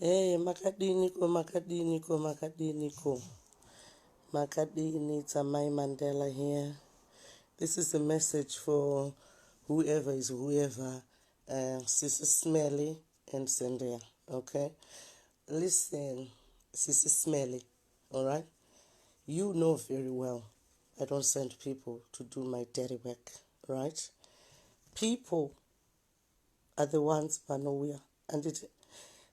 Hey, makadiniko makadiniko makadiniko makadini it's amai mandela here this is a message for whoever is whoever uh, sisi smelly and zendea okay listen sisi smelly all right you know very well i don't send people to do my dirty work right people are the ones vanouya anditi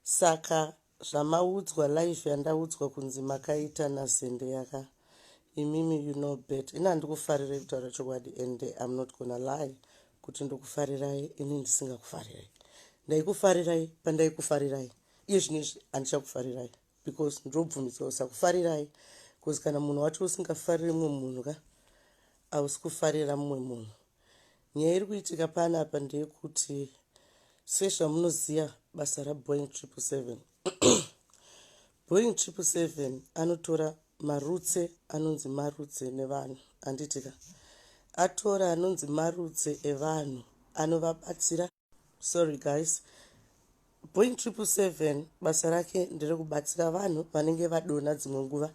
saka zvamaudzwa live yandaudzwa kunzi makaita nazende yaka imimi you know bet ini handikufarirei kutaura chokwadi and im not gona lie kuti ndokufarirai ini ndisingakufarirai ndaikufarirai pandaikufarirai iye zvino izvi handichakufarirai because ndinobvumidzwa kusakufarirai bcause kana munhu wacho usingafariri mumwe munhu ka ausi kufarira mumwe munhu Nyaya iri kuitika pana apa ndeyekuti sezvamunoziva basa raboing triple seven boing triple seven anotora marutse anonzi marutse nevanhu anditika atora anonzi marutse evanhu anovabatsira sorry guys boing triple seven basa rake nderekubatsira vanhu vanenge vadona dzimwe nguva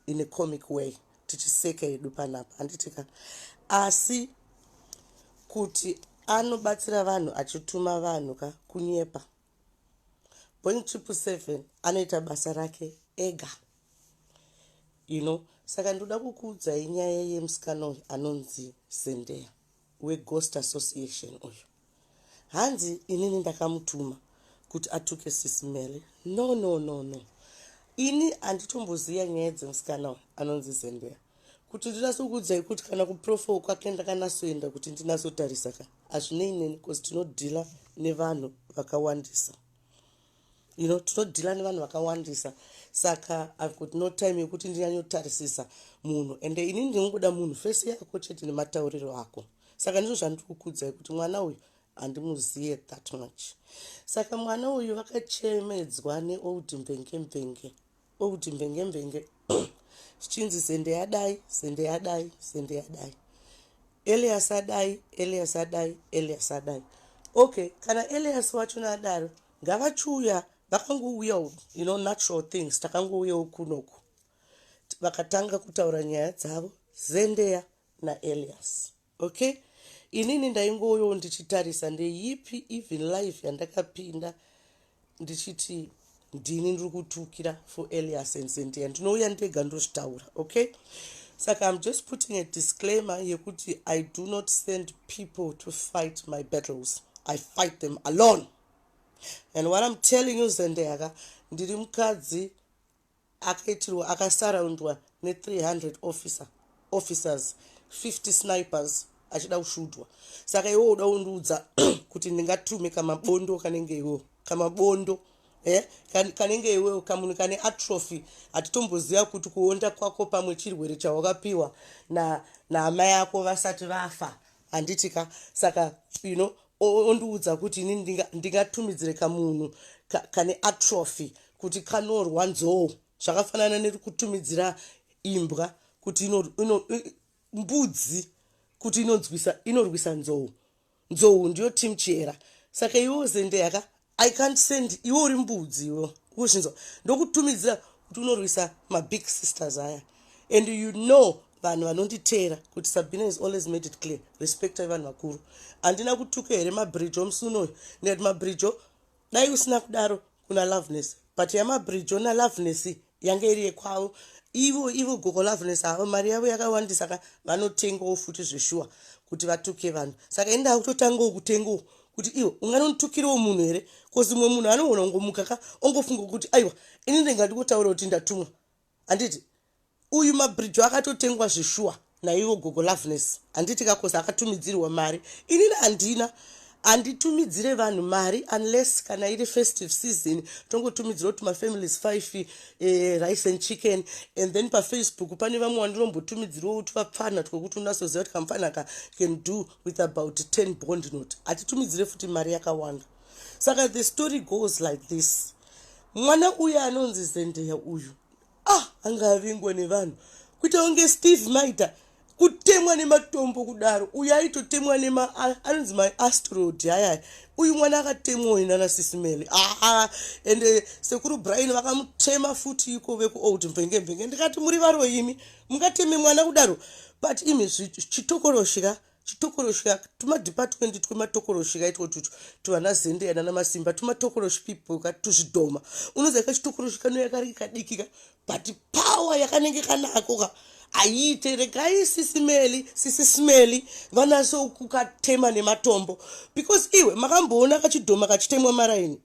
in a comic way tichiseka yedu panapa handitika asi kuti anobatsira vanhu achituma vanhu ka kunyepa boing triple seven anoita basa rake ega you know saka ndoda kukuudzai nyaya yemusikana uyu anonzi zendeya weghost association uyu hanzi inini ndakamutuma kuti atuke sisi mele no no no no ini handitomboziva nyaya dzemusikana uyu anonzi zembera kuti ndinasokuudzai kuti kana kuprofo kwake ndakanasoenda kuti ndinasotarisa ka hazvinei neni bcause tinodhila nevanhu vakawandisa you know tinodhila nevanhu vakawandisa saka i've got no time yekuti ndinyanyotarisisa munhu ende ini ndinongoda munhu fesi yako chete nematauriro ako saka ndizvo zvandiri kukudzai kuti mwana uyu handimuzive that much saka mwana uyu vakachemedzwa neold mvenge mvenge Okuti mbenge mbenge zvichinzi zende yadai zende yadai zende yadai elias adai elias adai elias adai okay kana elias wachona adaro ngavachiuya vakangouya you know natural things takangouyawo kunoku vakatanga kutaura nyaya dzavo zendeya naelias Okay. Inini ndaingoyo ndichitarisa ndeyipi even life yandakapinda ndichiti ndini ndiri kutukira for Elias and Cynthia ndinouya ndega ndozvitaura okay saka I'm just putting a disclaimer yekuti I do not send people to fight my battles I fight them alone and what I'm telling you Zendeyaka ndiri mukadzi akaitirwa akasaraundwa ne 300 officer officers 50 snipers achida kushudwa saka iwe uda undiudza kuti ndingatume kamabondo kanenge iwo kamabondo eh, kanenge iwewo kamunhu kane atrophy hatitomboziva kuti kuonda kwako pamwe chirwere chawakapiwa naamai na ako vasati vafa handiti ka saka you know ondiudza kuti ini ndingatumidzire kamunhu kane atrophy kuti kanorwa nzou zvakafanana nekutumidzira imbwa kuti mbudzi kuti inonzwisa inorwisa nzou nzou ndiyo team chihera saka iwe uzendeyaka i can't send iwe uri mbudzi iwe uzvinzwa ndokutumidzira kuti unorwisa mabig sisters aya and you know vanhu vanonditeera kuti sabina is always made it clear respectai vanhu vakuru handina kutuka here mabrijo musunoyo ndikati mabrijo dai usina kudaro kuna loveness but yamabrijo naloveness yanga iri yekwavo ivo ivo gogo loveness avo mari yavo yakawandisa ka vanotengawo futi zveshuwa kuti vatuke vanhu saka ini ndakutotangawo kutengawo kuti iwo unganonditukirawo munhu here kozi mumwe munhu anogona kungomuka ka ongofunga kuti aiwa ini ndinga ndingotaura kuti ndatumwa handiti uyu mabridge akatotengwa zveshuwa naivo gogo loveness handiti kakosa akatumidzirwa mari inini handina handitumidzire vanhu mari unless kana iri festive season tongotumidzira kuti mafamilies five eh, rice and chicken and then pafacebook pane vamwe wandinombotumidzirawo kuti vapfanha twekuti unasoziva kuti kamfanha ka can do with about 10 bond not hatitumidzire futi mari yakawanda saka the story goes like this mwana uyu anonzi zendeya uyu ah anga avingwa nevanhu kuita kunge steve maita kutemwa nematombo kudaro uyu aitotemwa nema anonzi maastrod ayaya uyu mwana akatemwa uyu nana sisimeli aa ende sekuru brian vakamutema futi iko vekuold mvenge mvenge ndikati muri varoimi mungateme mwana kudaro but imi chitokoroshika Chitokoroshi ka tuma department twema tokoroshi ka itwo tutu tuvana zende yana namasimba tuma tokoroshi people ka tuzvidhoma unoziva ka chitokoroshi kano yakari kadiki ka but power yakanenge kanako ka ayiite regai sisi meli sisi smeli vanaso kukatema nematombo because iwe makamboona kachidhoma kachitemwa maraini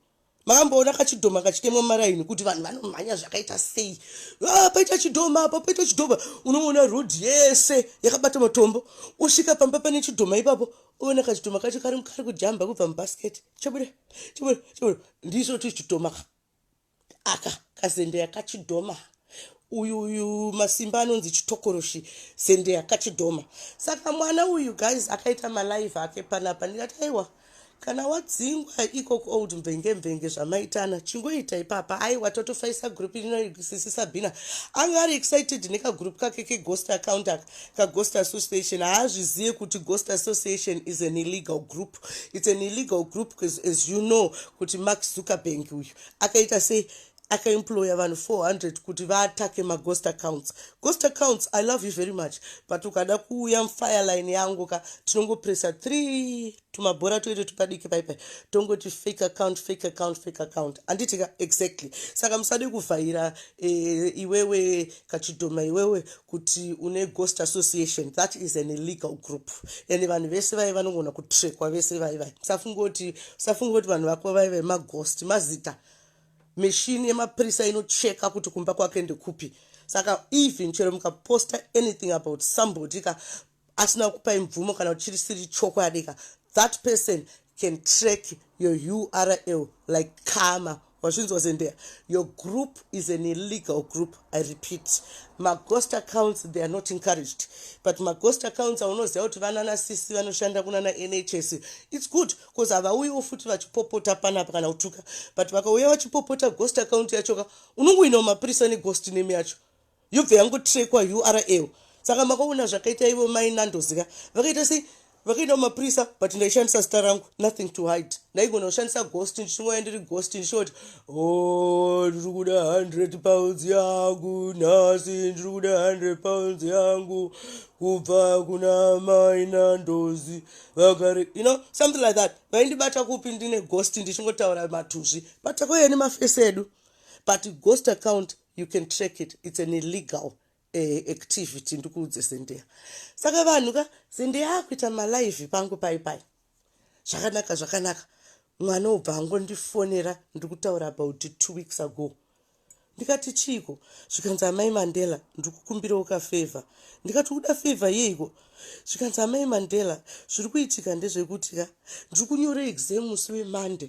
makamboona kachidhoma kachitemwa maraini kuti vanhu vanomhanya zvakaita sei ah, paita chidhoma apo paita chidhoma unoona road yese yakabata matombo usvika pamba pane chidhoma ipapo uona kachidhoma kacho kari kari kujamba kubva mubasket chabuda chabuda chabuda ndiso tichidhoma aka kazendeya kachidhoma uyu uyu masimba anonzi chitokoroshi sende akachidhoma saka mwana uyu guys akaita malive ake panapa ndikati aiwa kana wadzingwa ikoko old mvenge mvenge zvamaitana chingoita ipapa aiwa totofaisa group rino sisi sabina anga ari excited nekagroup kake keghost account aka kaghost association haazvizive kuti ghost association is an illegal group its an illegal group as you know kuti mark zuckerbank uyu akaita sei akaemployer vanhu 400 kuti vaatake maghost accounts ghost accounts i love you very much but ukada kuuya mfireline yangu ka tinongopressa three tumabhora toite tupadiki paipai tongoti fake account fake account fake account handiti ka exactly saka musade kuvhaira e, iwewe kachidhoma iwewe kuti une ghost association that is an illegal group and vanhu vese vaive vanongona kutrekwa vese vaivai musafungoti usafungoti vanhu vako vaive maghost mazita machine yemapurisa inocheka kuti kumba kwake ndekupi saka even chero mukaposta anything about somebody ka asina kupai mvumo kana kuti chirisiri chokwadi ka that person can track your url like kama wazvinzwa zendea your group is an illegal group i repeat maghost accounts they are not encouraged but maghost accounts aunoziva kuti vanana sisi vanoshanda kunana nhs its good coz havauyiwo futi vachipopota panapa kana kutuka but vakauya vachipopota ghost account yachoka unongoinawo mapurisa neghost name yacho yobva yangotrekwa url saka makaona zvakaita ivo mai nandoziva vakaita sei vakaenda kumapurisa but ndaishandisa zita rangu nothing to hide ndaigona kushandisa ghost ndichingoya ndiri ghost ndichoti o oh, ndiri kuda 100 pounds yangu nhasi ndiri kuda 100 pounds yangu kubva kuna mai nandozi vagari you know something like that vaindibata kupi ndine ghost ndichingotaura matuzvi but koyeni mafesi edu but ghost account you can track it it's an illegal eh, activity ndikuudze zendeya saka vanhu ka zendeya akuita malive pangu pai pai zvakanaka zvakanaka mwana obva angondifonera ndikutaura about two weeks ago ndikati chiiko zvikanzi amai mandela ndikukumbirawo kafevha ndikati uda fevha yeiko zvikanzi amai mandela zviri kuitika ndezvekuti ka ndiri kunyora exam musi wemande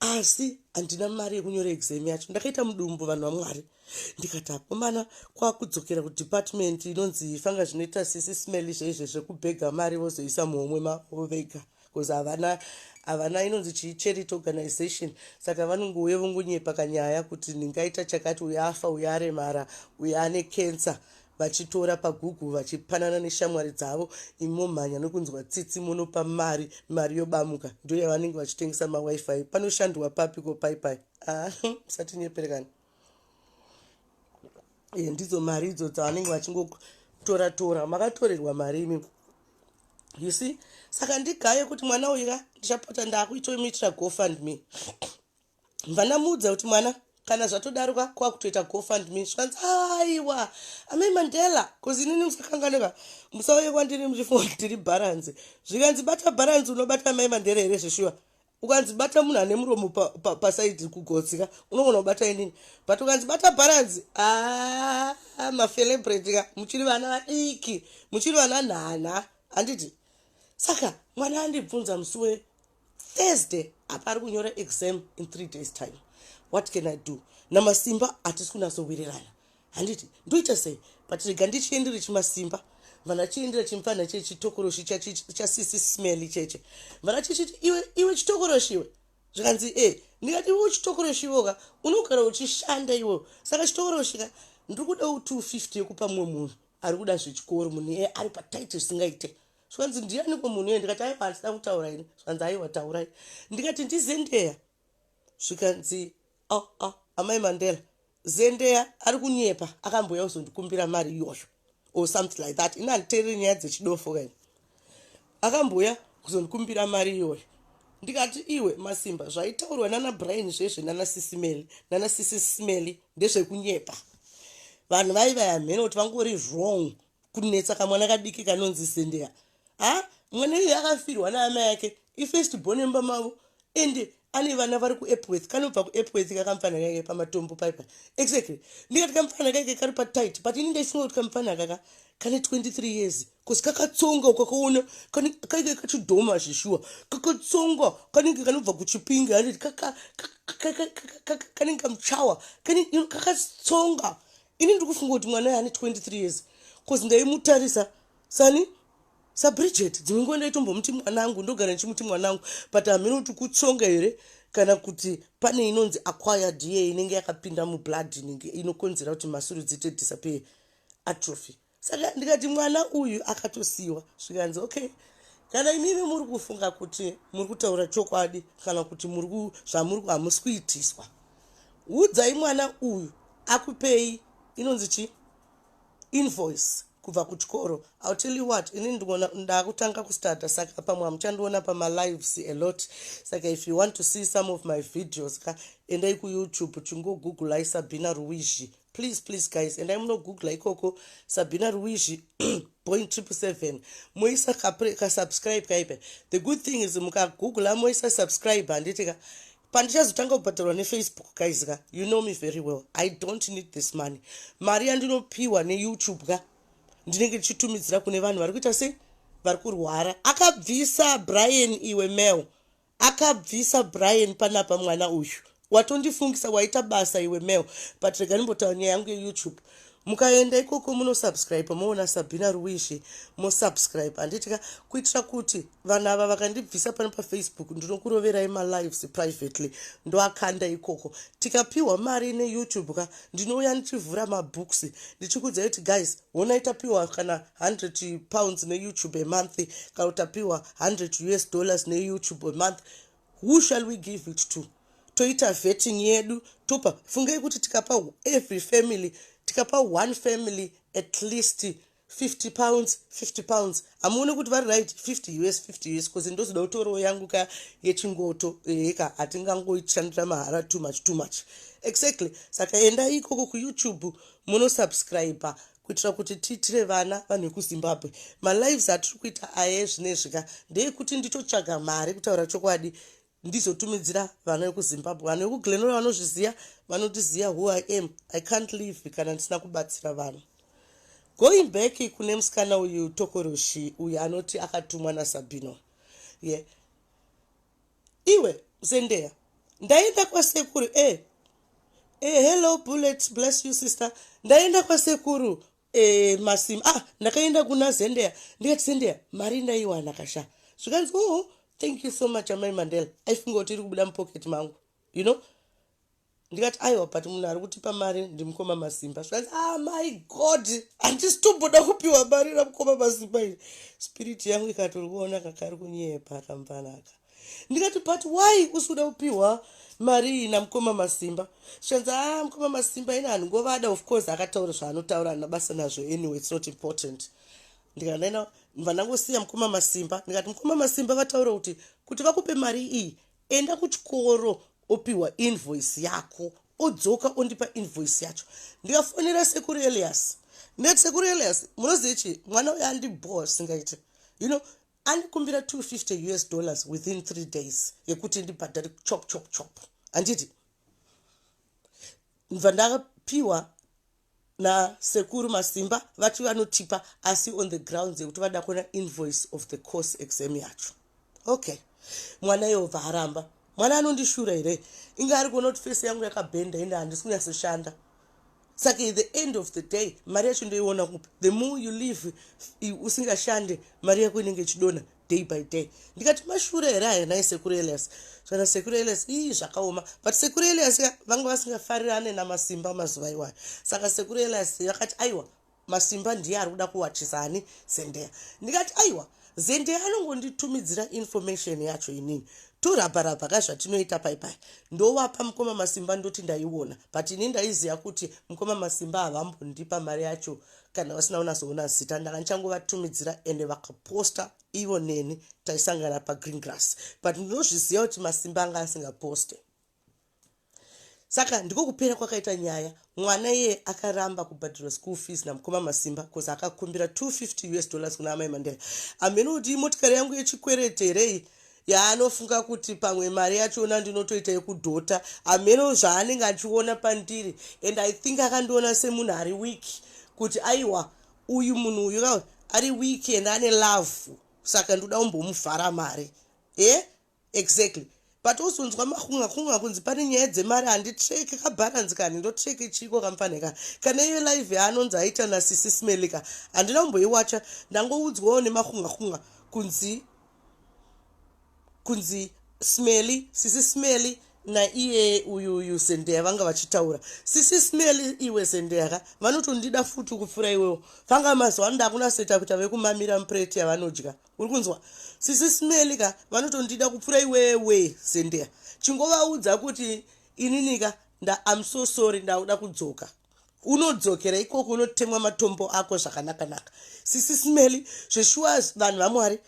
asi handina mari yekunyora exam yacho ndakaita mudumbu vanhu vamwari ndikati akomana kwakudzokera kudepartment inonzi fanga zvinoita sisi smelly zveizvezvekubhega mari vozoisa muhomwe mavo vega ma Coz havana havana inonzi chii charity organization saka vanongouya vongonyepa kanyaya kuti ndingaita chakati uyo afa uyo aremara uyo ane cancer vachitora pagoogle vachipanana neshamwari dzavo imomhanya nokunzwa tsitsi monopa mari mari yobamuka ndoyavanenge vachitengesa mawifi panoshandwa papi ko pai pai ah, musatinyeperekana e, ndidzo mari idzo dzavanenge vachingotora tora makatorerwa mari imi you see saka ndigaye kuti mwana uyu ka ndichapota ndaakuitomitira gofund me mvana muudza kuti mwana kana zvatodaroka kwakutoita gofund me zvikanzi aiwa amai mandela bcause inini musakanganeka musauye kwandiri muchifunga kuti tiri bharanzi zvikanzi bata bharanzi unobata amai mandela here zveshuwa ukanzi bata munhu ane muromo pasaidi kugotsi ka unogona kubata inini but ukanzi bata bharanzi ah, mafelebrate ka muchiri vana vadiki muchiri vana nhana handiti saka mwana andibvunza musi we thursday apa ari kunyora exam in three days time what can i do namasimba hatisi kunatsowirirana handiti ndoita sei but rega ndichiendere chimasimba vana chiendera chimfanha che chitokoroshi chasisi smell cheche vana chichiti iwe iwe chitokoroshi iwe zvikanzi e eh, ndikati iwe chitokoroshi iwoka unogara uchishanda iwe saka chitokoroshi ka ndiri kuda u 250 yekupa mumwe munhu ari kuda zvechikoro munhu iye ari pataiti zvisingaite zvikanzi ndiyaniko munhu iye ndikati aiwa handisina kutaura ini zvikanzi aiwa taurai ndikati ndizendeya zvikanzi oh, oh, amai mandela zendeya ari kunyepa akambouya kuzondikumbira mari iyoyo or something like that ini handiteerere nyaya dzechidofo kaini akambouya kuzondikumbira mari iyoyo ndikati iwe masimba zvaitaurwa nana brian zvezve nana sisimeli nana sisi simeli ndezvekunyepa vanhu vaivaya mhene kuti vangori wrong kunetsa kamwana kadiki kanonzi zendeya ha mwana iye akafirwa naamai ake ifirst born emba mavo and ane vana vari kuepworth kanobva kuepworth kakamfana kaike pamatombo paipa exactly ndikati kamfana kaike kari patit but ini ndaifunga kuti kamfana kaka kane 23 years bcause kakatsonga ukakaona kaike kachidhoma zveshuwa kakatsonga kanenge kanobva kuchipingi handiti kanenge kamuchawa kakatsonga ini ndiri kufunga kuti mwana aye ane 23 years bcause ndaimutarisa sani sabridget dzimwe nguva ndaitombomuti mwanangu ndogara ndichimuti mwanangu but hamheno kuti kutsonga here kana kuti pane inonzi aquire da inenge yakapinda mublood inenge inokonzera kuti masuru dziite disappear atrophy saka ndikati mwana uyu akatosiyiwa zvikanzi okay kana imimi muri kufunga kuti muri kutaura chokwadi kana kuti zvamuri hamusi kuitiswa udzai mwana uyu akupei inonzi chii invoice kubva kuchikoro ill tell you what ini ndakutanga kustarta saka pamwe hamuchandiona pamalives a lot saka if you want to see some of my videos ka endai kuyoutube chingogooglai sabina ruwizhi please please guys endai munogoogla ikoko sabina ruwizhi point triple seven moisa kasubscribe kaipe the good thing is mukagoogla moisa subscribe handiti ka pandichazotanga kubhadharwa nefacebook guys ka you know me very well i don't need this money mari yandinopiwa neyoutube ka ndinenge ndichitumidzira kune vanhu vari kuita sei vari kurwara akabvisa brian iwe mel akabvisa brian panapa mwana uyu watondifungisa waita basa iwe mel but rega ndimbotaura nyaya yangu yeyoutube mukaenda ikoko munosubscribe moona sabhina ruwishi mosubscribe handiti ka kuitira kuti vanhu ava vakandibvisa pano pafacebook ndinokuroverai malives privately ndoakanda ikoko tikapiwa mari neyoutube ka ndinouya ndichivhura mabooks ndichikudza kuti guys honai tapiwa kana 100 pounds neyoutube amonth kana tapiwa 100 us dollars neyoutube amonth Who shall we give it to? Toita vetting yedu topa fungai kuti tikapa every family tikapa one family at least 50 pounds 50 pounds hamuone kuti vari right 50 us 50 us bcause ndozoda kutoriwo yangu ka yechingoto heka eh, hatingangoishandira mahara too much too much exactly saka endai ikoko kuyoutube munosubscribe kuitira kuti tiitire vana vanhu vekuzimbabwe malives atiri kuita aya ezvinezvika ndeekuti nditotsvaga mari kutaura chokwadi ndizotumidzira vana vekuzimbabwe vanhu vekuglenora vanozviziva vanotiziva who i am i can't live kana ndisina kubatsira vanhu going back kune musikana uyu tokoroshi uyu anoti akatumwa nasabino ye yeah. Iwe Zendea ndaenda kwasekuru eh. Eh, hello bullet bless you sister ndaenda kwasekuru eh, masim ah ndakaenda kuna zendea ndikati zendea mari ndaiwana kasha zvikanzi oh thank you so much amai mandela aifunga kuti iri kubuda mupocket mangu you know ndikati aiwa but munhu ari kutipa mari ndimukoma masimba zvikanzi ah my god handisi tomboda kupiwa mari ramukoma masimba iri spirit yangu ikatoriona kakari kunyepa akamvanaka ndikati but why usi kuda kupiwa mari iyi namukoma masimba zvikanzi ah mukoma masimba ini handingovada of course akataura zvaanotaura ana basa nazvo anyway its not important ndikanena mva ndangosiya mukoma masimba ndikati mukoma masimba vataura kuti kuti vakupe mari iyi Enda kuchikoro opihwa invoice yako odzoka ondipa invoice yacho ndikafonera sekuru Elias ndikati sekuru Elias munoziva chii mwana uyo andibhowa zvisingaite you know andikumbira 250 us dollars within 3 days yekuti ndibhadhare chop chop chop handiti ndva ndakapiwa nasekuru masimba vati vanotipa asi on the grounds yekuti vada kuona invoice of the course exam yacho okay mwana yehova haramba mwana anondishura here inge ari kuona kuti fesi yangu yakabhenda ende handisi kunyasoshanda saka the end of the day mari yacho ndoiona kupi the more you live usingashande mari yako inenge ichidona day by day ndikati mashure here aya nhai sekuru elias zvana sekuru elias ii zvakaoma but sekuru elias ka vanga vasingafarirane namasimba mazuva iwayo saka sekuru elias vakati aiwa masimba ndiye ari kuda kuwachisa ani zendeya ndikati aiwa zendeya anongonditumidzira information yacho inini torabharabha ka zvatinoita paipai ndovapa mukoma masimba ndoti ndaiona but ini ndaiziva kuti mukoma masimba havambondipa mari yacho kana vasina kunatsoona zita ndanga ndichangovatumidzira ende vakaposta ivo neni taisangana pagreen grass but ndinozviziva kuti masimba anga asingaposte saka ndiko kupera kwakaita nyaya mwana iye akaramba kubhadhirwa school fees namukoma masimba bcause akakumbira 250 us dollars kuna amai mandela amheno kuti imotikari yangu yechikwerete here iyi yaanofunga kuti pamwe mari yachiona ndinotoita yekudhota hameno zvaanenge achiona pandiri and i think akandiona semunhu ari weak kuti aiwa uyu munhu uyu ka ari weak and ane love saka ndoda kumbomuvhara mari e eh? exactly but ozonzwa makunga kunga kunzi pane nyaya dzemari handitreke kabharanzi kani ndotreke chiiko kamfaneka kana iyo live yaanonzi aita nasisi smelika handina kumboiwacha ndangoudzwawo nemakunga kunga kunzi kunzi smelly sisi smelly naiye uyu uyu zendeya vanga vachitaura sisi smelly iwe zendeya ka vanotondida futi kupfuura iwewo vanga mazuva anoda kunaseta kuita vekumamira mupureti yavanodya uri kunzwa sisi smelly ka vanotondida kupfuura iwewe zendeya chingovaudza kuti inini ka nda am so sorry ndauda kudzoka unodzokera ikoko unotemwa matombo ako zvakanaka naka sisi smely zveshuwa vanhu vamwari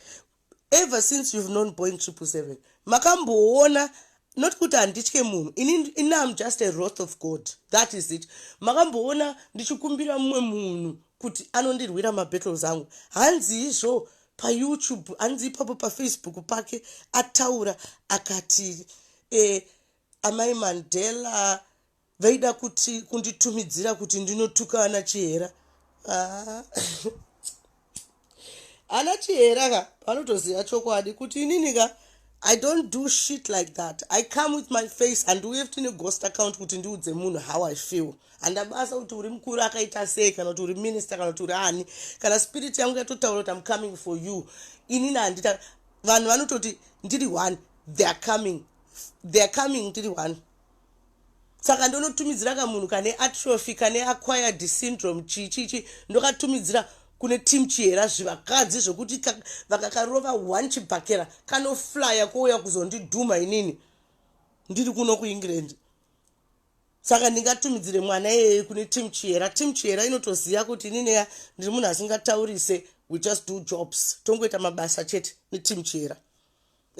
ever since you've known boing triple seven makamboona not kuti handitye munhu ini am just a wroth of god that is it makamboona ndichikumbira mumwe munhu kuti anondirwira mabattles angu hanzi izvo payoutube hanzi ipapo pafacebook pake ataura akati eh, amai mandela Vaida kuti kunditumidzira kuti ndinotuka ana Chihera. Ah. ana Chihera ka vanotoziva chokwadi kuti inini ka I don't do shit like that. I come with my face and we have to know ghost account kuti ndiudze munhu how I feel. And abasa kuti uri mkuru akaita sei kana kuti uri minister kana kuti uri ani. Kana spirit yangu yatotaura kuti I'm coming for you. Ini na ndita vanhu vanototi ndiri one. They are coming. They are coming ndiri one. saka ndonotumidzira kamunhu kane atrophy kane acquired syndrome chii chii chii ndokatumidzira kune team chihera zvivakadzi zvekuti vakakarova one chibhakera kanoflya kouya kuzondidhuma inini ndiri kuno kuengland saka ndingatumidzire mwana iyeye kune team chihera team chihera inotoziva kuti inineya ndiri munhu asingataurise we just do jobs tongoita mabasa chete neteam chihera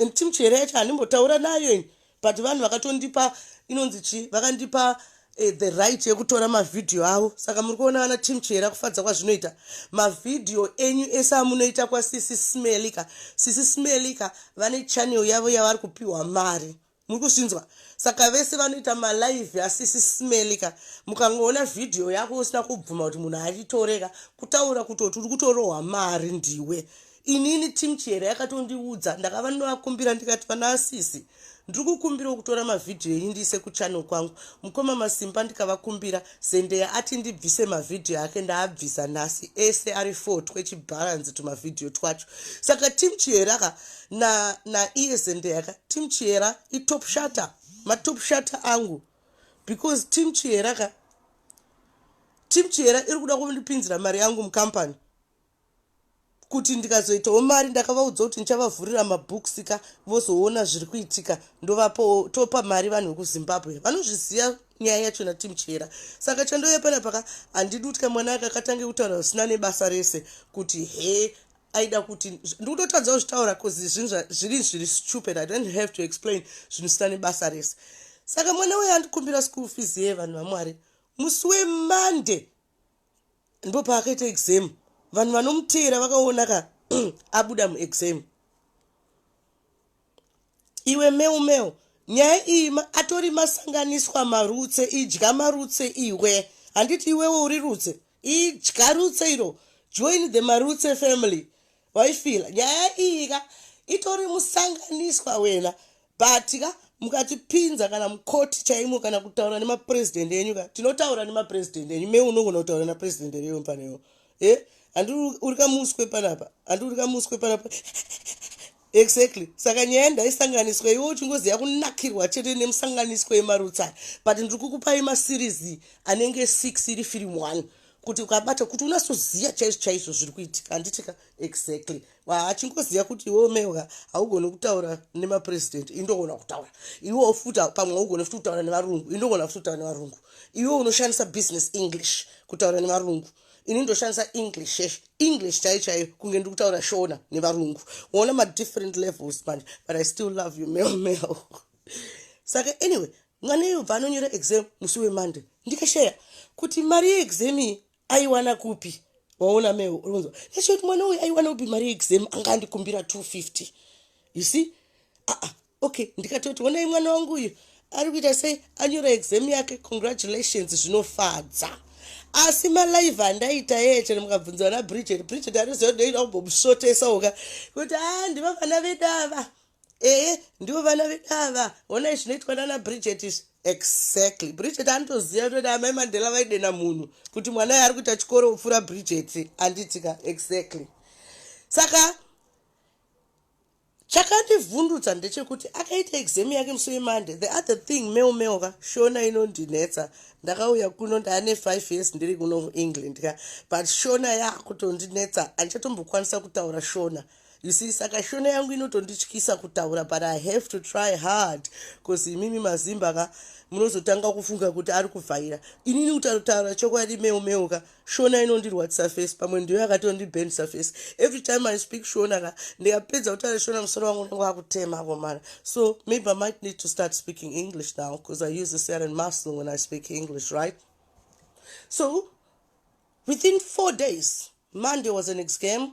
and team chere yacho handimbotaura nayo ini but vanhu vakatondipa inonzi chii vakandipa Eh, the right yekutora mavhidhiyo avo saka muri kuona vana team chera kufadza kwazvinoita mavhidhiyo enyu ese amunoita kwasisi smelika sisi smelika vane channel yavo yavari kupiwa mari muri kuzvinzwa saka vese vanoita malive asisi smeli ka mukangoona vhidhiyo yako usina kubvuma kuti munhu achitoreka kutaura kutoti uri kutorohwa mari ndiwe inini tim chihera yakatondiudza ndakava ndinovakumbira ndikati vana asisi ndiri kukumbirawo kutora mavhidhiyo enyu ndiise kuchannel kwangu mukoma masimba ndikavakumbira Zendeya ati ndibvise mavhidhiyo ake ndaabvisa nhasi ese ari four twechibharanzi tumavhidhiyo twacho saka team chihera ka na, na iye zendeya ka team chihera itop shutter matop shutter angu because team chihera ka team chihera iri kuda kundipinzira mari yangu mucompany kuti ndikazoitawo mari ndakavaudza kuti ndichavavhurira mabooks ka vozoona zviri kuitika ndovapawo topa mari vanhu vekuzimbabwe vanozviziva nyaya yacho natim chihera saka chandouya panapaka handidi kuti kamwana aka katange kutaura zvisina nebasa rese kuti he aida kuti ndikutotadza kuzvitaura bcause zvinhu zviri zviri stupid i don't have to explain zvinhu zvisina nebasa rese saka mwana uyo andikumbira school fees ye vanhu vamwari musi wemonday ndopaakaita exam vanhu vanomuteera vakaona ka abuda muexam iwe meu meu nyaya iyi atori masanganiswa marutse idya marutse iwe handiti iwewo uri rutse idya rutse iro join the marutse family waifila nyaya iyi ka itori musanganiswa wena But ka mukatipinza kana mukoti chaimo kana kutaura nemapresident enyu ka tinotaura nemapresident enyu me unogona kutaura napresident reyo paneyo e eh? handi uri kamuswe panapa handi uri kamuswe panapa exactly saka nyaya ndaisanganiswa iwe uchingoziva kunakirwa chete nemusanganiswa yemarutsaya but ndiri kukupai maseries anenge six iri film one kuti ukabata kuti unasoziva chaizvo chaizvo zviri kuitika handitika exactly achingoziva kuti iwe mewga haugoni kutaura nemapresident indogona kutaura iwe futa pamwe haugoni futi kutaura nevarungu indogona futi kutaura nevarungu iwe unoshandisa business english kutaura nevarungu ini ndoshandisa english yes. english chai chaiyo kunge ndiri kutaura shona nevarungu uona madifferent levels manje but i still love you mel mel saka anyway mwana iye ubva anonyora exam musi wemonday ndikashaya kuti mari yeexam iyi aiwana kupi waona me unonzwa that's what mwana uyu aiwana kupi mari yeexam anga andikumbira 250 you see aa ah, ah, okay ndikatoti onai mwana wangu uyu ari kuita sei anyora exam yake congratulations zvinofadza asi malive andaita yeye chero mukabvunza vana bridget bridget anoziva kuti ndaida kumbomusvotesa uka kuti a ah, ndivavana vedu ava Ehe, ndivo vana vedu ava. Honai zvinoitwa nana Bridget izvi. Exactly. Bridget anotoziva kuti amai Mandela vaidena munhu kuti mwana yaari kuita chikoro upfura Bridget anditika. Exactly. Saka chakandivhundutsa ndechekuti akaita exam yake musi wemonday the other thing meo meo ka shona inondinetsa ndakauya kuno ndaane five years ndiri kuno muengland ka but shona yaakutondinetsa handichatombokwanisa kutaura shona You see, saka shona yangu inotondityisa kutaura but I have to try hard cause imimi mazimba ka munozotanga kufunga kuti ari kuvhaira inini kutautaura chokwadi meu meu ka shona inondirwadzisa face pamwe ndiyo yakatondibendisa face every time I speak shona ka ndikapedza kutaura shona musoro wangu unenge wakutema komana so maybe I might need to start speaking English now cause I use a certain muscle when I speak English right so within four days Monday was an exam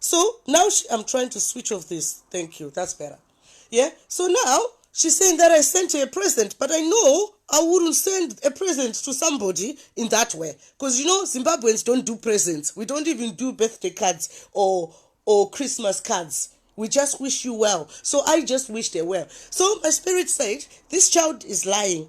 so now she, i'm trying to switch off this thank you that's better yeah so now she's saying that i sent her a present but i know i wouldn't send a present to somebody in that way because you know zimbabweans don't do presents we don't even do birthday cards or or christmas cards we just wish you well so i just wished her well so my spirit said this child is lying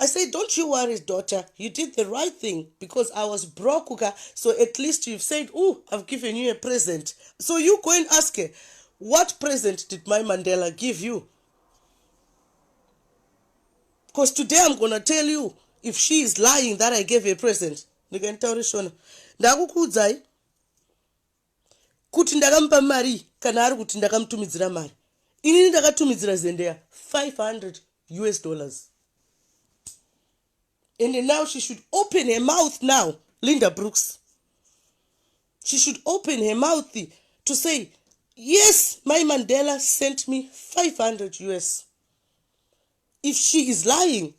I say don't you worry daughter you did the right thing because I was broke ka so at least you've said ooh I've given you a present so you go and ask her what present did my Mandela give you because today I'm gonna tell you if she is lying that I gave her present ndikanditaurishona ndakukuudzai kuti ndakamupa marii kana ari kuti ndakamutumidzira mari inini ndakatumidzira zendeya 500 us dollars and now she should open her mouth now linda brooks she should open her mouth to say yes my mandela sent me 500 us if she is lying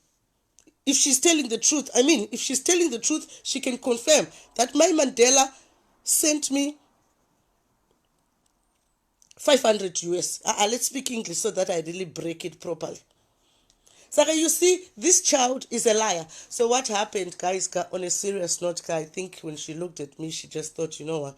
if she's telling the truth i mean if she's telling the truth she can confirm that my mandela sent me 500 us uh, uh, let's speak english so that i really break it properly so you see this child is a liar so what happened guys on a serious note i think when she looked at me she just thought you know what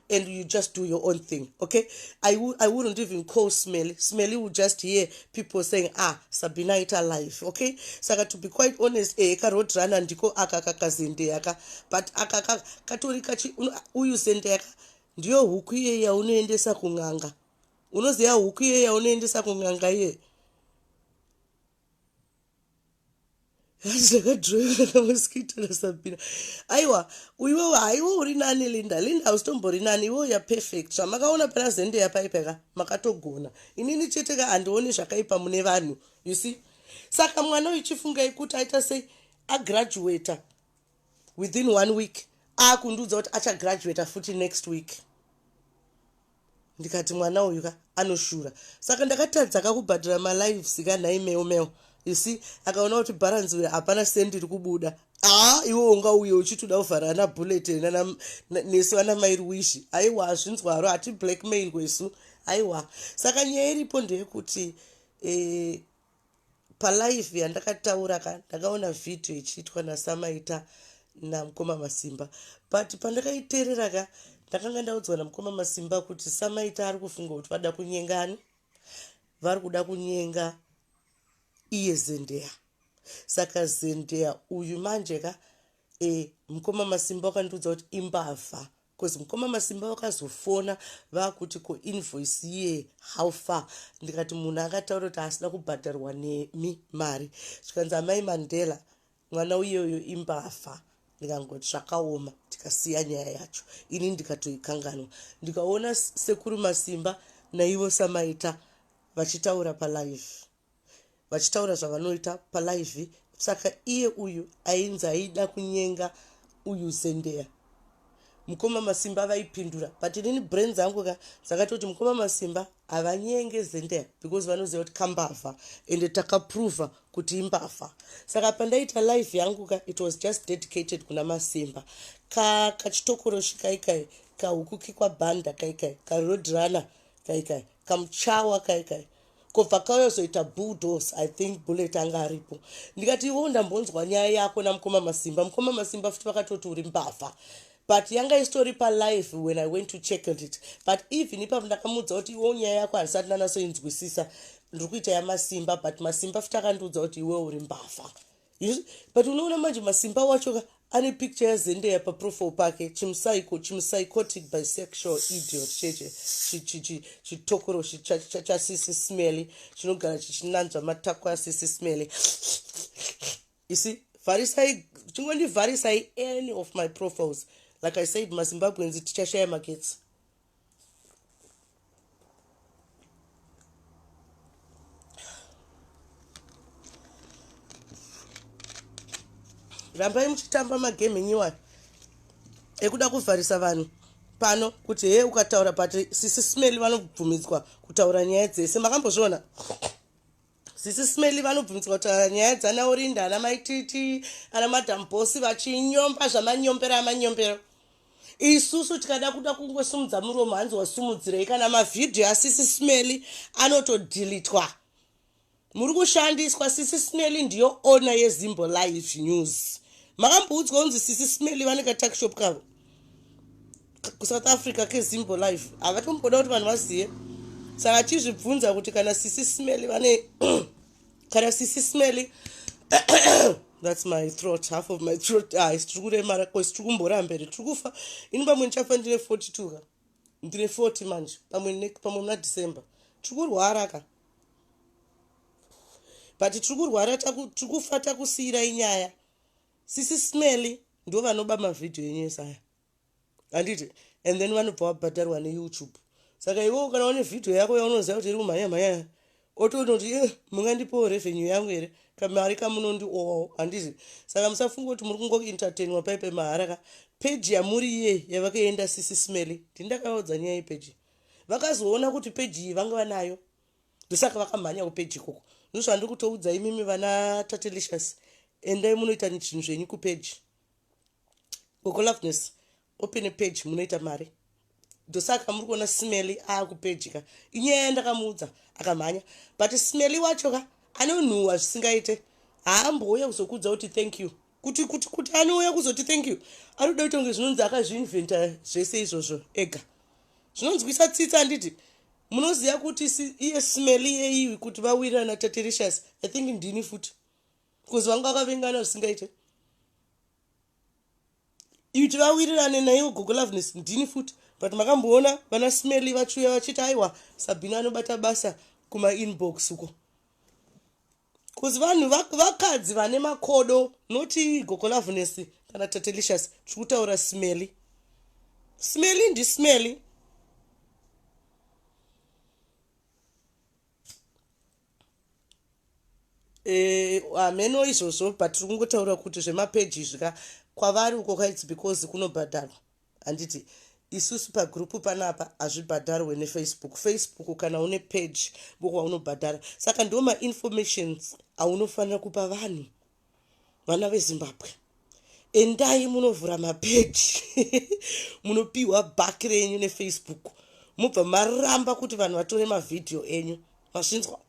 and you just do your own thing okay i, I wouldn't even call smelly smelly would just hear people saying ah sabina ita life okay saka to be quite honest eh, ka road runner ndiko aka kakazendeyaka but aka katori kachi uyu zendeyaka ndiyo huku iye yaunoendesa kun'anga unoziva huku iye yaunoendesa kun'anga iye hanzi ndakadhiroiwa kamaskita kasabhira aiwa iwewe haiwe uri nani linda linda hausitombori nani iwewe ya perfect zvamakaona pana zende yapaipeka makatogona inini chete ka handioni zvakaipa mune vanhu you see saka mwana uyu chifungai kuti aita sei agraduata within one week akundiudza kuti achagraduata futi next week ndikati mwana uyu ka anoshura saka ndakatadza kakubhadhara malives ka nhai meo meo you see akaona kuti bharanzi uya hapana sendi iri kubuda haa ah, iwe unga uye uchitoda kuvhara ana bullet nesu ana mairi wishi aiwa hazvinzwaro hati blackmail kwesu aiwa saka nyaya iripo ndeyekuti eh, palive yandakataura ka ndakaona vhidhiyo ichiitwa nasamaita namukoma masimba but pandakaiteerera ka ndakanga ndaudzwa namukoma masimba kuti samaita ari kufunga kuti vada kunyengani vari kuda kunyenga iye zendeya saka zendeya uyu manje ka e, mukoma masimba wakandiudza kuti imbavha Cause mukoma Masimba vakazofona vakuti ko invoice ye how far ndikati munhu akataura kuti asina kubhadharwa nemi mari zvikanzi amai Mandela mwana uyeyo imbafa ndikangoti zvakaoma tikasiya nyaya yacho ini ndikatoikanganwa ndikaona sekuru Masimba naivo samaita vachitaura palive vachitaura zvavanoita palive saka iye uyu ainzi aida kunyenga uyu zendeya mukoma masimba vaipindura but inini brain dzangu ka dzakatoti mukoma masimba havanyenge zendeya because vanoziva kuti kambavha ende takaprova kuti imbavha saka pandaita life yangu ka it was just dedicated kuna masimba ka kachitokoroshi kaikai kahukuki kwabhanda kaikai karodrunner kaikai kamuchawa kaikai ka ko bvakauya kuzoita bulldos i think bullet anga aripo ndikati ivo ndambonzwa nyaya yako namukoma masimba mukoma masimba futi vakatoti uri mbavha but yanga isitori palive when i went to checkled it but even ipapo ndakamudza kuti iwo nyaya yako handisati ndanasoinzwisisa ndiri kuita yamasimba but masimba futi akandiudza kuti iwe uri mbavha but unoona manje masimba wacho ka ane picture yazendeya paprofile pake chimusaiko chimusaicotic bisexual idiot cheche chitokoro chasisi smelly chinogara chichinanzva matako asisi smelly isi vharisai chingondivharisai any of my profiles like i said mazimbabweans tichashaya magetsi rambai muchitamba magame enyiwani ekuda kuvharisa vanhu pano kuti hee ukataura but sisi smell vanobvumidzwa kutaura nyaya dzese makambozviona Sisi Smelly vanobvunzwa kuti ah, nyaya dzana Orinda ana mai Titi ana madam boss vachinyomba zvamanyombera amanyombero isusu tikada kuda kungosumudza muromo hanzi wasumudzirei kana mavhidhiyo asisi Smelly anotodhilitwa muri kushandiswa sisi Smelly ndiyo owner yeZimbo Live News makamboudzwa kunzi sisi Smelly vane katakishop kavo kusouth africa kezimbo live havatomboda kuti vanhu vazive saka chizvibvunza kuti kana sisi smely vane kana sisi smely thats my throat half of my throat ah, isi tiri kuremara bcause tiri kumbora mberi tiri kufa ini pamwe ndichafa ndine 4 two ka ndine 4 manje pamwe pamwe muna december tiri kurwara ka but tiri kurwara tiri kufa takusiyirai nyaya sisi smelly ndivo vanoba mavhidhiyo enyu ese aya handiti and then vanobva wabhadharwa neyoutube saka iwewo kana une vhidhiyo yako yaunoziva kuti iri kumhanya mhanya otoona kuti eh, mungandipowo revenue yangu here kamari kamunondiowawo handiti saka musafunga kuti muri kungoentertainwa pai pemahara ka peji yamuri iye yavakaenda sisi smelly ndindakavaudza nyaya yepeji vakazoona kuti peji iyi vanga vanayo ndosaka vakamhanya kupeji ikoko ndozvandiri kutoudza imimi vana tatelicious endai munoita zvinhu zvenyu kupeji gogoloveness open page munoita mari ndosaka muri kuona smelly aakupeji ka inyaya yandakamuudza akamhanya but smelly wacho ka anonhuhwa zvisingaite haambouya kuzokuudza kuti thank you kuti kuti kuti anouya kuzoti thank you anoda kuita kunge zvinonzi akazviinventa zvese izvozvo ega zvinonzwisa tsitsi anditi munoziva kuti iye smeli yeiwi kuti vawirirana taterishas i think ndini futi bcause vanga vakavengana zvisingaite iti vawirirane naiwo gogo loveness ndini futi but makamboona vana smeli vachiuya vachiti aiwa sabhina anobata basa kumainbox uko Cause vanhu vakadzi vane makodo noti gogo loveness kana tatelicious tiri kutaura smelly smelly ndi smelly eh, hameno uh, izvozvo but tiri kungotaura kuti zvemapeji izvi ka kwavari uko kaits because kunobhadharwa Handiti isusu pagroup panapa hazvibhadharwe nefacebook facebook kana une page book waunobhadhara saka ndo mainformations aunofanira kupa vanhu vana vezimbabwe endai munovhura mapeji munopiwa back renyu nefacebook mubva maramba kuti vanhu vatore mavhidhiyo enyu mazvinzwa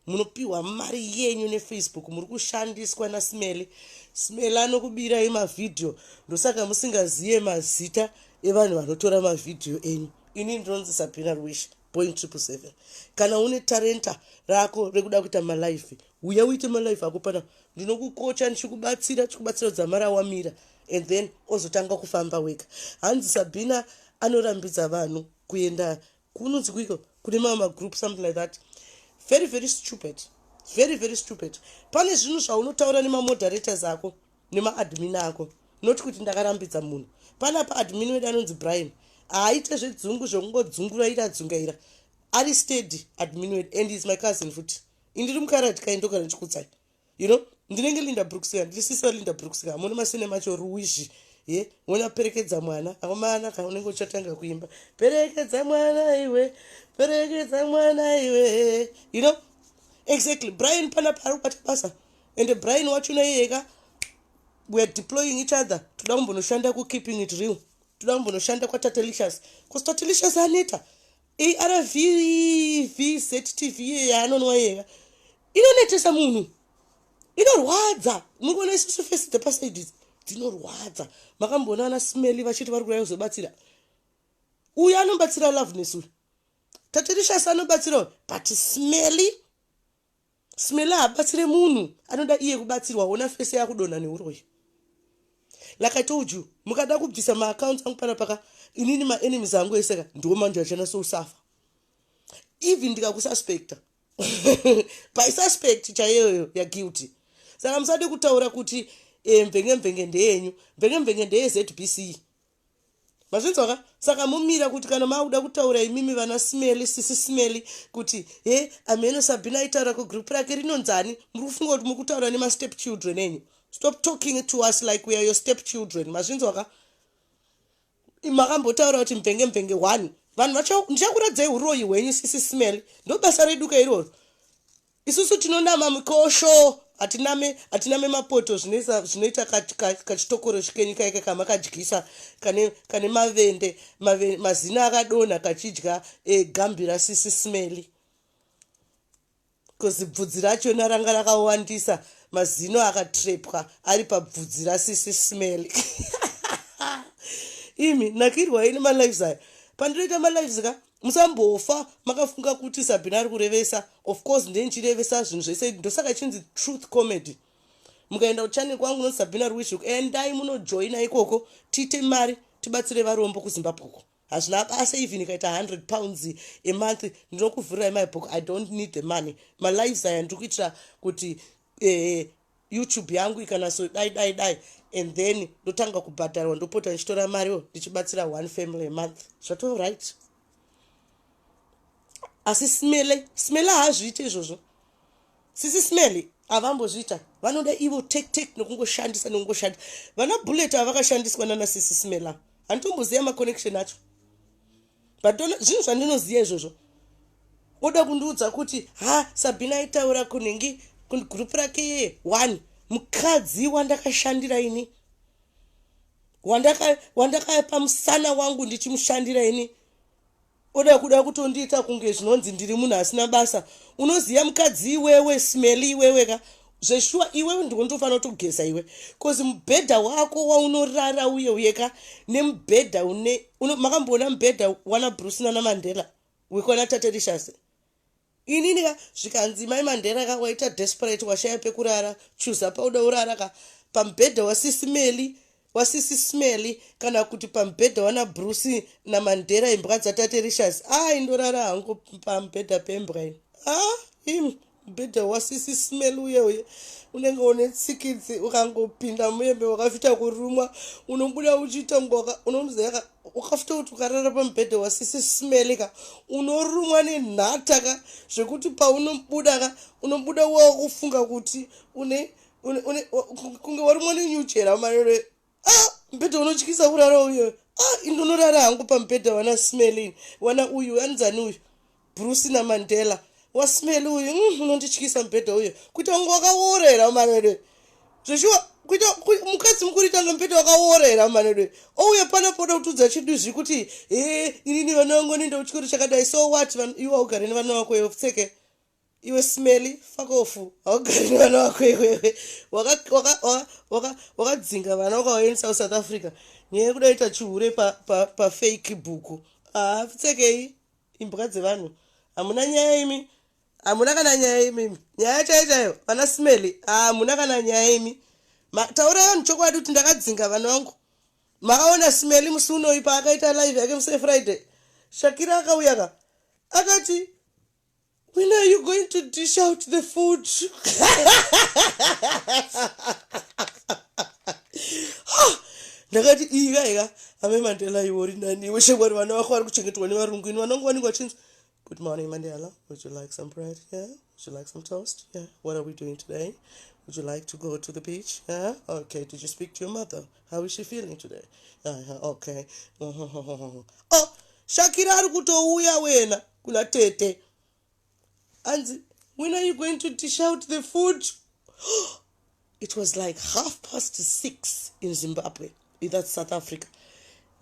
munopiwa mari yenyu nefacebook muri kushandiswa nasmele smele anokubirai mavhidhiyo ndosaka musingazive mazita evanhu vanotora mavhidhiyo enyu ini ndinonzi sabina rwish point triple seven kana une tarenta rako rekuda kuita malife uya uite malife ako pana ndinokukocha ndichikubatsira chikubatsira dzamara wamira and then ozotanga kufamba wega hanzi sabina anorambidza vanhu kuenda kunonzi kuiko kune mamwe magroup something like that very very stupid very very stupid pane zvinhu zvaunotaura nemamoderators ako nemaadmin ako not kuti ndakarambidza munhu pana pa admin wedu anonzi brian haaite zvedzungu zvekungodzungura iri adzungaira ari steady admin wedu and is my cousin futi indiri mukaradhi kaindogara ndichikutsai you know ndinenge linda brooks ka ndiri sisa linda brooks ka hamoni masine macho ruizhi ye wena perekedza mwana akomana ka unenge uchatanga kuimba perekedza mwana iwe perekedza mwana iwe you know exactly brian pana paari kubata basa ende brian wacho naiyeka weare deploying each other toda kumbonoshanda kukeeping it real toda kumbonoshanda kwatatelicious bcause tatelicious aneta arv vztv iye yaanonwa yeka inonetesa munhu inorwadza muri kuona isisu fesi dzepasaidi idzi dzinorwadza makamboona ana smeli vachiti vari kuraya kuzobatsira uyu anobatsira loveness uyu tatirishasi anobatsira uyu but smeli Smela habatsire munhu anoda iye kubatsirwa ona face yakudonha neuroyi. Like I told you mukada kubvisa ma accounts angu pana paka inini ma enemies angu ese ka ndiwo manje achana so usafa. Even ndikakususpecta by suspect chaiyoyo ya guilty. Saka musade kutaura kuti eh, mvenge mvenge ndeyenyu mvenge mvenge ndeye ZBC mazvinzwa ka saka mumira kuti kana makuda kutaura imimi vana smeli sisi smeli kuti he amheno sabhina aitaura kugroup rake rinonzani muri kufunga kuti muri kutaura nemastep children enyu stop talking to us like weare your step children mazvinzwa ka makambotaura kuti mvenge mvenge one vanhu ndichakuradzai uroyi hwenyu sisi smeli ndobasa reduka iroro Isusu tinonama mukosho hatiname hatiname mapoto zvinoisa zvinoita kachitokoro chikenyu kaika kamakadyisa kane kane mavende mave, mazina akadonha kachidya e, gambira sisi smeli bcause bvudzi racho naranga rakawandisa mazino akatrepwa ari pabvudzi rasisi smeli imi nakirwa ini malives ayo pandinoita malives ka musambofa makafunga kuti sabhina ari kurevesa of course ndee ndichirevesa zvinhu zvese ndosaka chinzi truth comedy mukaenda kuchannel kwangu unonzi sabhina ruwishuk endai munojoina ikoko tiite mari tibatsire varombo kuzimbabwe uko hazvina basa even ikaita 100 pounds emonth ndinokuvhurirai my book i don't need the money malives aya ndiri kuitira kuti eh, YouTube yangu ikanaso dai dai dai and then ndotanga kubhadharwa ndopota ndichitora mari yo ndichibatsira one family a month zvatoo right asi smele smele haazviite izvozvo sisi smele havambozviita vanoda ivo tek tek nokungoshandisa nokungoshandisa vana bullet avakashandiswa nana sisi smela handitomboziva maconnection acho but zvinhu zvandinoziva izvozvo woda kundiudza kuti ha sabhina aitaura kunhingi group rake yeye one mukadzi wandakashandira ini wandakapa musana wangu ndichimushandira ini oda kuda kutondiita kunge zvinonzi ndiri munhu asina basa unoziva mukadzi iwewe smeli iwewe ka zveshuwa iwewe ndiwe ndofanira kutogeza iwe bcoz mubhedha wako waunorara uye uyeka nemubhedha une makamboona mubhedha wana bruce nana mandela wekwana taterishase inini ka zvikanzi mai mandela ka waita desperate washaya pekurara chuza pauda urara ka pamubhedha wasisimeli wasisi smelly kana kuti pamubhedha wana bruce namandera imbwa dzatate rishas aa ah, indorara hangu pamubhedha pembwa ini aa ah, im mubhedha wasisi smelly uye uye unenge une tsikidzi ukangopinda muyembe wakafita kurumwa unobuda uchiita ngoka unomuzeyaka ukafita kuti ukarara pamubhedha wasisi smelly ka unorumwa nenhata ka zvekuti paunobuda ka unobuda wakufunga kuti une kunge warumwa nenyuchera marere ah, mubhedha unotyisa kurara uyo ah, indonorara hangu pamubhedha wana smelin wana uyu anzani uyu bruce namandela wasmeli uyu mm, unondityisa mubhedha uyo kuita kunge wakaworera marere zveshuwa kuita mukadzi mukuru ita ngambeta wakaworera manedwe ouya pana poda kutudza chidu zvekuti he inini vana vangu anoenda kuchikoro chakadai so what iwa ugare nevana vako yopfeke iwe smelly fakofu haugari nevana wako iwewe wakadzinga vana wakawaendisa kusouth africa nyaya yekuda ita chihure pafake bhuku hapfekei imbwa dzevanhu hamuna nyaya imi hamuna kana nyaya imimi nyaya chai chayo vana smelly hamuna kana nyaya imi taurai vanhu chokwadi kuti ndakadzinga vana vangu makaona smelly musi unoyi paakaita live yake musefriday shakira akauya ka akati When are you going to dish out the food? ndakati iyi kaika ame mandela iwori naniwe shekori vana vako vari kuchengetwa nevarungu ini vanongo vanenge vachinzi good morning mandela would you like some bread yeah would you like some toast yeah what are we doing today would you like to go to the beach yeah okay did you speak to your mother yeah. How is she feeling today? Uh, okay. oh, Shakira ari kutouya wena kuna tete. Anzi, when are you going to dish out the food? it was like half past six in Zimbabwe. That's South Africa.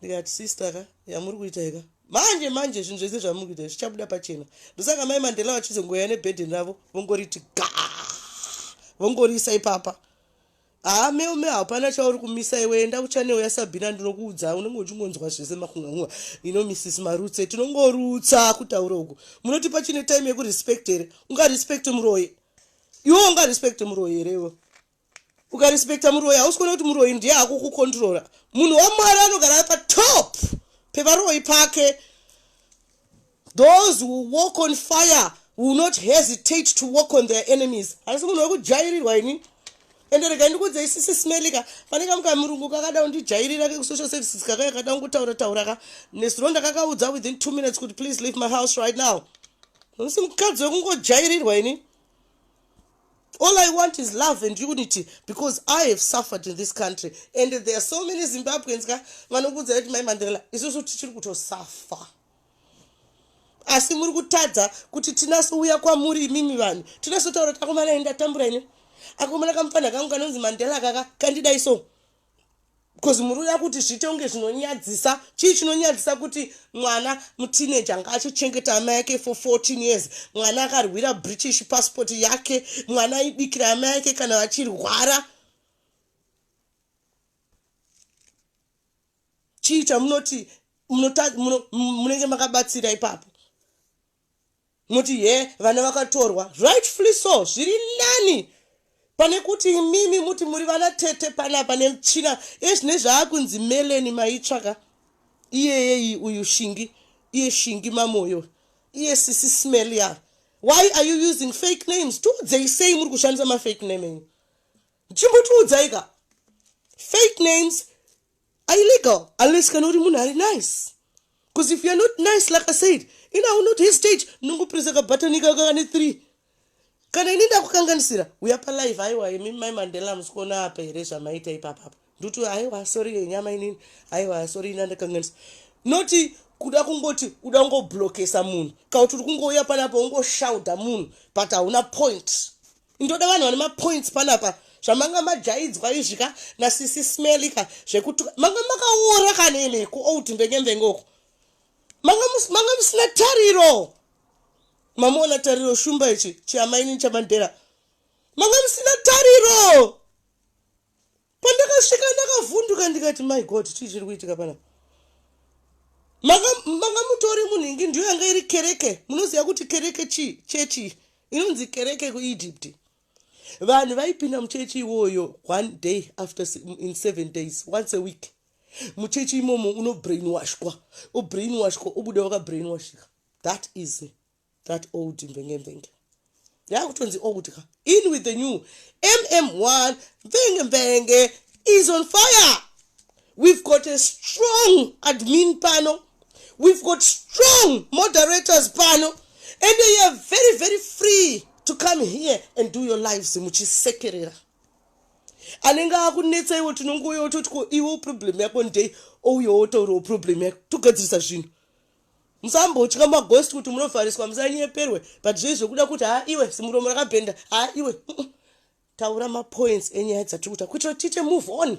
ndikati sister ka yamuri kuita ika manje manje zvinhu zvese zvamuri kuita zvichabuda pachena ndosaka mai mandela vachizongoya nebhedhen ravo vongoriti ga vongoriisa ipapa Haa Melme hapana chauri kumisa iwe enda kuchanel yaSabina ndinokuudza unenge uchingonzwa zvese makunganguva you know Mrs Marutse tinongorutsa kutaura uku munoti pachine time yekurespect here ungarespect muroyi iwe ungarespect muroyi here iwe ukarespecta muroyi hausi kuona kuti muroyi ndiye akukukontrora munhu wamwari anogara patop pevaroyi pake Those who walk on fire will not hesitate to walk on their enemies. Asi munhu wekujairirwa ini. Ende rega ndikudze isisi smelika pane kamwe kamurungu kakada kundijairira kekusocial services kakaya kada kungutaura taura ka nesironda kakaudza within two minutes kuti please leave my house right now. Musi mukadzi wekungojairirwa ini. All I want is love and unity because I have suffered in this country and there are so many Zimbabweans ka vanokudza kuti mai Mandela isusu tichiri kutosuffer. asi muri kutadza kuti tinasouya kwamuri imimi vanhu tinasotaura kuti akomana ini ndatambura ini akomana kamupfanha kangu kanonzi mandela kaka kandidai so bcause muri uya kuti zviite kunge zvinonyadzisa chii chinonyadzisa kuti mwana mutineje anga achichengeta ama yake for 14 years mwana akarwira british passport yake mwana aibikira ama yake kana vachirwara chii chamunoti munenge makabatsira ipapo munoti he vana vakatorwa rightfully so zviri nani pane kuti imimi muti muri vana tete panapa nemuchina ezvine zvaakunzi meleni maitsvaka iyeyeyi uyu shingi iye shingi mamoyo iye sisi smelia why are you using fake names tiudzei sei muri kushandisa mafake name enyu chimbotiudzaika fake names are illegal unless kana uri munhu ari nice because if youare not nice like i said in i will not hesitate ndongopresa kabhatanika kakane three kana ini ndakukanganisira uya palive aiwa imi mai mandela musikuona apa here zvamaita ipapapa nduti aiwa sorry yenyama inini aiwa sorry ini andakanganisa noti kuda kungoti uda kungoblokesa munhu kana kuti uri kungouya panapa ungoshaudha munhu but hauna point ndoda vanhu vane mapoints panapa zvamanga majaidzwa izvi ka nasisi smeli ka zvekuti manga makaora kana imi kuold mvengembengoko manga musina tariro mamuona tariro shumba ichi chiamainini chamandera manga musina tariro pandakasvika ndakavhunduka ndikati my god chii chiri kuitika pana manga mutori munhu ingi ndiyo yanga iri kereke munoziva kuti kereke chii chechi inonzi kereke kuegypt vanhu vaipinda muchechi iwoyo one day after in seven days once a week muchechi imomo unobrainwashwa obrainwashwa obuda wakabrainwashika that is me that old mvenge mvenge yakutonzi old ka in with the new mm1 mvenge mvenge is on fire we've got a strong admin pano we've got strong moderators pano and you are very very free to come here and do your lives muchisekerera anenge akunetsa iwo tinongouya ototi ko iwo problem yako ndei ouya otaurawo problem yako togadzirisa zvinhu Musambotya maghost kuti munovhariswa musanyeperwe but zvei zvekuda kuti haa iwe simuromo rakabhenda haa iwe taura mapoints enyaya dzatiri kuta kuitira kuti tiite move on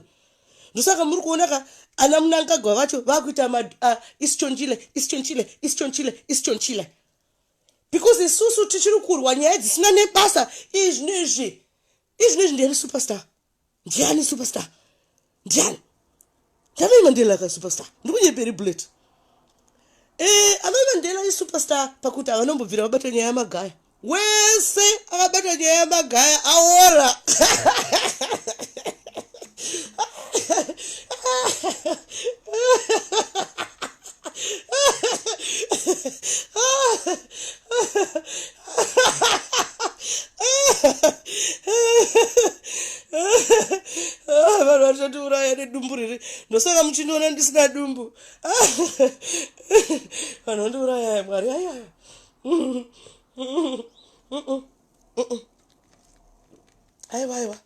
ndosaka muri kuona ka ana munangagwa vacho vakuita ma uh, isichonchile isichonchile isichonchile isichonchile because isusu tichiri kurwa nyaya dzisina nebasa izvi nezvi izvi nezvi ndiri superstar ndiani superstar ndiani ndavei mandela ka superstar ndikunyeperi bullet e eh, avai mandela isuperstar pakuti havanombobvira vabata nyaya yamagaya wese akabata nyaya yamagaya aora ah, vanhu vachatiuraya nedumbu riri ndosaka muchindiona ndisina dumbu ah, vanhu vandiuraya mwari aya aiwa aiwa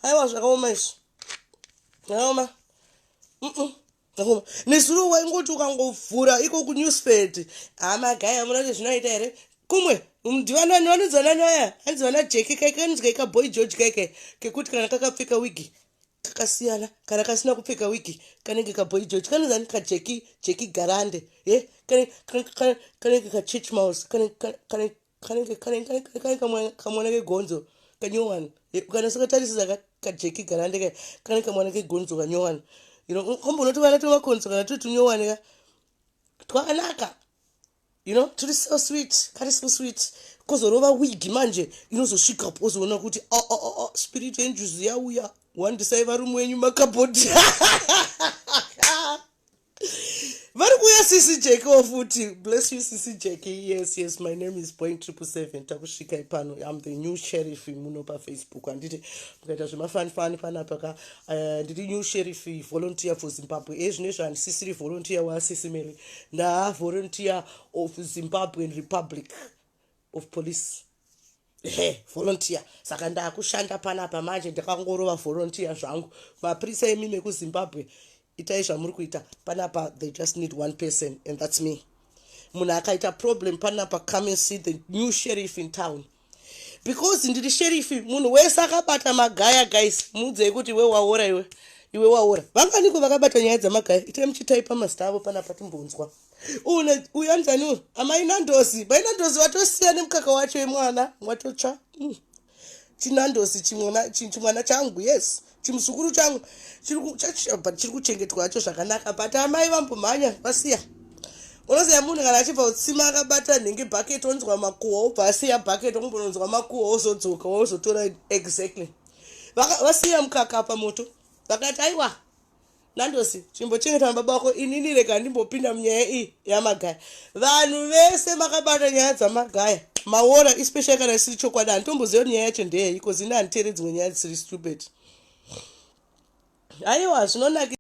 aiwa zvakaoma izvi zvakaoma nezuro waingoti ukangovhura iko kunewspad amagaya munoti zvinoita here kumwe ndivanani vanonzi vanani vaya hanzi vana jeki kaike kanonzi kaika boy george kaike kekuti kana kakapfeka wigi kakasiyana kana kasina kupfeka wigi kanenge kaboy george kanonzi ani kajeki jeki garande e kanenge kachurch mouse kanenge kanenge kamwana kegonzo kanyowana ukanasa katarisisa kajeki garande ka kanenge kamwana kegonzo kanyowana you know kamboona tuvana twemakonzo kana turi tunyowane ka twakanaka you know turi so sweet kari so sweet kozorova wigi manje inozosvika po ozoona kuti o oh, o oh, o oh, spirit yenjuzi yauya wandisai varume wenyu makabhodhi vari kuuya sisi jeki wo futi bless you sisi jeki yes yes my name is point triple seven takusvika ipano im the new sheriff muno pafacebook handiti mukaita zvemafanifani panapa ka eh, ndiri uh, new sheriff volunteer for zimbabwe e eh, zvino izvo handisisiri volunteer wasisi mary ndaa volunteer of zimbabwean republic of police ehe volunteer saka ndakushanda panapa manje ndakangorova volunteer zvangu mapurisa emi mekuzimbabwe itai zvamuri kuita panapa they just need one person and thats me munhu akaita problem panapa come and see the new sheriff in town because ndiri sherifi munhu wese akabata magaya guys muudzei kuti iwe waora iwe iwe waora vanganiko vakabata nyaya dzamagaya itai muchitaipa mazita avo panapa timbonzwa une uya ndani uyu amai nandozi mai nandozi vatosiya nemukaka wacho imwana watotsva mm. chinandozi chimwana chi- chimwana changu yes chimuzukuru changu chiri ku- chachi- but chiri kuchengetwa hacho zvakanaka but amai vambomhanya vasiya unoziva munhu kana achibva kutsima akabata nhingi bucket onzwa makuhwa obva asiya bucket ombononzwa makuhwa ozodzoka ozotora exactly Vaka- vasiya mukaka pamoto vakati aiwa nandosi chimbochengeta mababa wako inini rega ndimbopinda munyaya iyi yamagaya vanhu vese makabata nyaya dzamagaya maora especially kana isiri chokwadi handitomboziva nyaya yacho ndeyeiko zini handiteere dzimwe nyaya dzisiri stupid aiwa zvinonaki